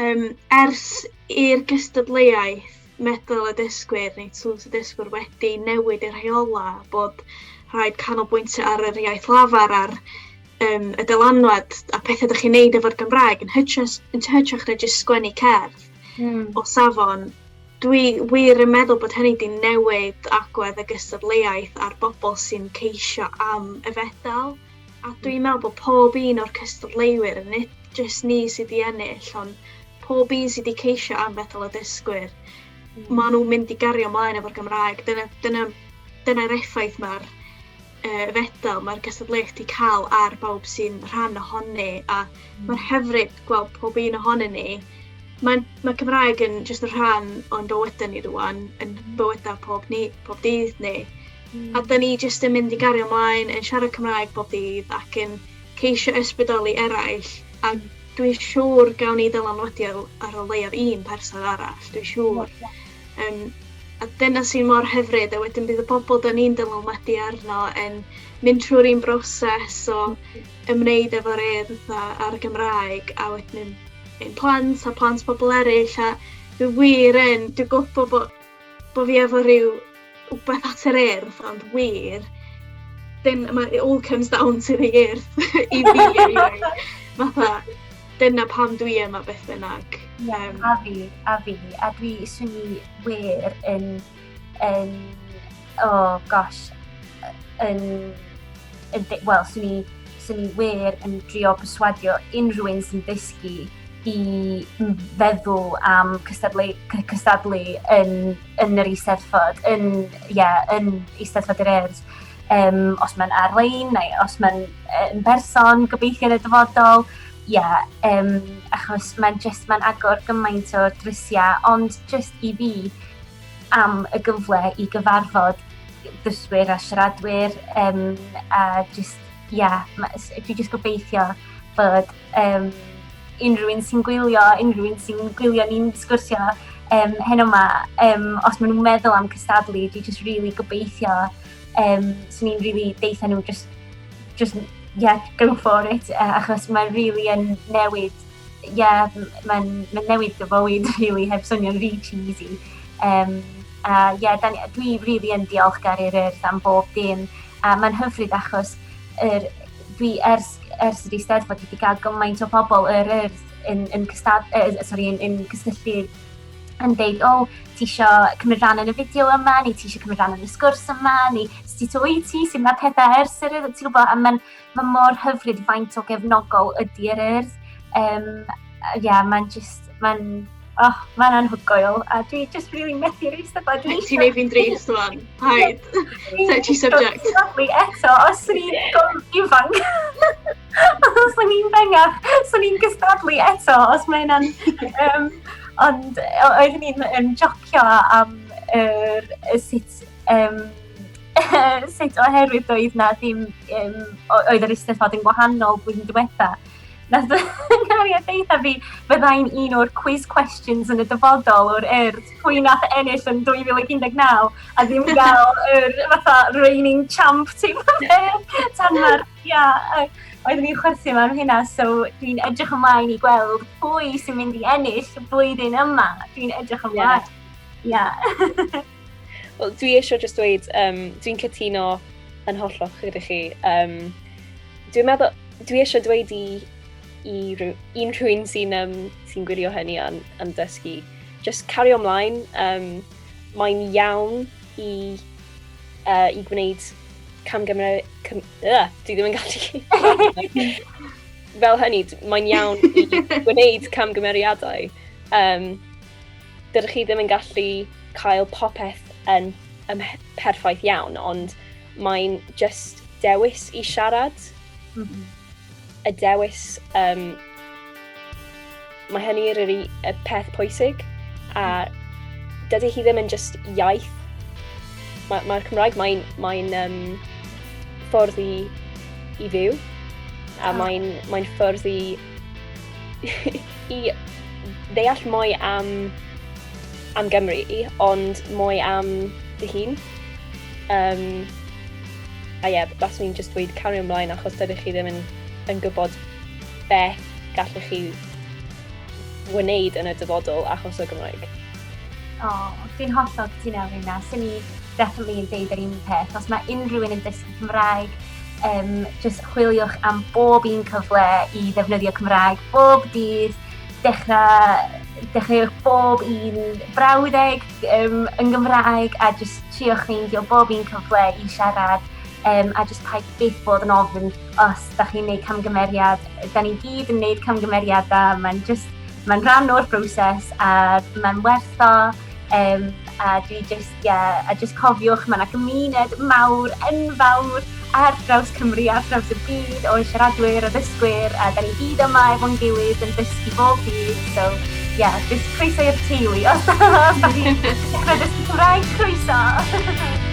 Um, ers i'r gystadleuaeth meddwl y dysgwyr neu tŵls y dysgwyr wedi newid i'r rheola bod rhaid canolbwyntio ar yr iaith lafar a'r um, y dylanwad a pethau ydych chi'n neud efo'r Gymraeg yn hytrach, yn hytrach na jyst sgwennu cerdd mm. o safon. Dwi wir yn meddwl bod hynny wedi newid agwedd y gystadleuaeth a'r bobl sy'n ceisio am y fedal. A dwi'n meddwl bod pob un o'r cystadleuwyr, nid jyst ni sydd wedi ennill, ond pob un sydd wedi ceisio am fetal o dysgwyr, mm. maen nhw'n mynd i gario ymlaen efo'r Gymraeg. Dyna'r dyna, dyna, dyna effaith mae'r uh, fedal, mae'r gystadleuaeth wedi cael ar bawb sy'n rhan ohoni, a mm. mae'r hyfryd gweld pob un ohonyn ni. Mae, mae Cymraeg yn jyst yn rhan o'n bywydau ni rwan, yn bywydau pob, ni, pob dydd ni. A da ni jyst yn mynd i gario ymlaen yn siarad Cymraeg bob dydd ac yn ceisio ysbrydoli eraill a hmm. dwi'n siŵr gawn ni ddylanwadu ar o leiaf un person arall, dwi'n siŵr. Um, a dyna sy'n mor hyfryd a wedyn bydd y bobl da ni'n dylanwadu arno yn mynd trwy'r un broses o hmm. ymwneud efo'r edd a'r Gymraeg a wedyn ein plant a plant pobl eraill a dwi wir yn, dwi'n gwybod bod Bod fi efo rhyw wbath at yr Urdd ond wir dyn- ma' it all comes down to the Urdd i fi anyway. Fatha dyna pam dwi yma beth bynnag. Yym. A fi, a fi, a dwi swn i wir yn yn Oh gosh, yn, yn wel, swn i, swn i wir yn drio perswadio unrhyw un sy'n ddysgu i feddwl am cystadlu, cystadlu yn, yn yr eisteddfod, yn, yeah, yn eisteddfod yr erdd. Um, os mae'n ar-lein neu os mae'n yn berson, gobeithio yn y dyfodol, yeah, um, achos mae'n just, mae'n agor gymaint o drysiau, ond just i fi, am y gyfle i gyfarfod dysgwyr a siaradwyr um, a just, yeah, dwi just gobeithio bod um, unrhyw un sy'n gwylio, unrhyw un sy'n gwylio ni'n sgwrsio um, heno yma, um, os maen nhw'n meddwl am cystadlu, dwi just really gobeithio, um, swn i'n really deitha nhw just, just, yeah, go for it, uh, achos mae'n really yn newid ie, mae'n ma newid dy fywyd rili heb swnio'n rhy cheesy. Um, a ie, yeah, dwi rili really yn diolchgar i'r Urdd am bob dim. A mae'n hyfryd achos er, dwi ers, ers yr Eisteddfod wedi cael gymaint o pobl yr Urdd yn, yn, cystad, uh, sorry, yn, yn cysylltu yn deud, o, oh, ti eisiau cymryd rhan yn y fideo yma, neu ti eisiau cymryd rhan yn y sgwrs yma, neu sut oed ti, sy'n mae pethau ers yr Urdd, ti'n gwybod, a mae'n Mae mor hyfryd faint o gefnogol ydy yr urdd. Um, yeah, mae'n just, mae'n oh, mae'n anhygoel, a dwi just really methu reis y bod. Ti'n ei fi'n dreis rwan, haid. Touchy subject. Sorry, eto, os o'n i'n gorfod ifanc, os o'n i'n bengaf, os o'n i'n gystadlu eto, os mae hynna'n... Um, ond oeddwn i'n yn jocio am er, sut um, sut oherwydd doedd na ddim, um, oedd yr eisteddfod yn gwahanol blwyddyn diwetha. Nath Nariad ddeitha fi, fyddai'n un o'r quiz questions yn y dyfodol o'r erd, pwy nath ennill yn 2019, a ddim gael yr fatha reigning champ ti tan mae'r, ia, oeddwn i'n chwerthu mewn hynna, so dwi'n edrych ymlaen i gweld pwy sy'n mynd i ennill y blwyddyn yma. Dwi'n edrych ymlaen. Yeah. yeah. Wel, dwi eisiau jyst dweud, um, dwi'n cytuno yn hollol gyda chi. Um, dwi'n meddwl, dwi eisiau dweud i, i unrhyw un sy'n um, sy gwylio hynny yn, yn dysgu, just cario ymlaen. Um, mae'n iawn i, uh, i gwneud camgymryd... Cam, uh, dwi ddim yn gallu... Fel hynny, mae'n iawn i gwneud camgymeriadau. Um, dydych chi ddim yn gallu cael popeth yn, yn perffaith iawn, ond mae'n just dewis i siarad. Mm -hmm. Y dewis, um, mae hynny yr y peth pwysig, a mhm. dydy hi ddim yn just iaith. Mae'r ma, Cymraeg, mae'n mae, mae um, ffordd i, i fyw, a ah. mae'n mae ffordd i I ddeall mwy am, am Gymru, ond mwy am dy hun. Um, a ie, yeah, baswn i'n just dweud cario ymlaen achos dydych chi ddim yn, yn gwybod beth gallech chi wneud yn y dyfodol achos o Gymraeg. O, oh, fi'n hollol cytuno efo hynna. Swn i definitely yn deud yr un peth. Os mae unrhyw un yn dysgu Cymraeg, um, jyst chwiliwch am bob un cyfle i ddefnyddio Cymraeg bob dydd, dechrau dechreuwch bob un brawddeg um, yn Gymraeg a jyst triwch ffeindio bob un cyfle i siarad um, a jyst paid byth bod yn ofyn os da chi'n gwneud camgymeriad. Da ni gyd yn gwneud camgymeriadau, mae'n just, mae'n rhan o'r broses a mae'n werth o Um, a dwi just, yeah, a just cofiwch, mae yna gymuned mawr, enfawr, ar draws Cymru, ar draws y byd, o siaradwyr, o ddysgwyr, a da ni gyd yma efo'n gilydd yn dysgu bob byd, so, yeah, just croeso i'r teulu, os da chi'n dysgu Cymraeg, croeso!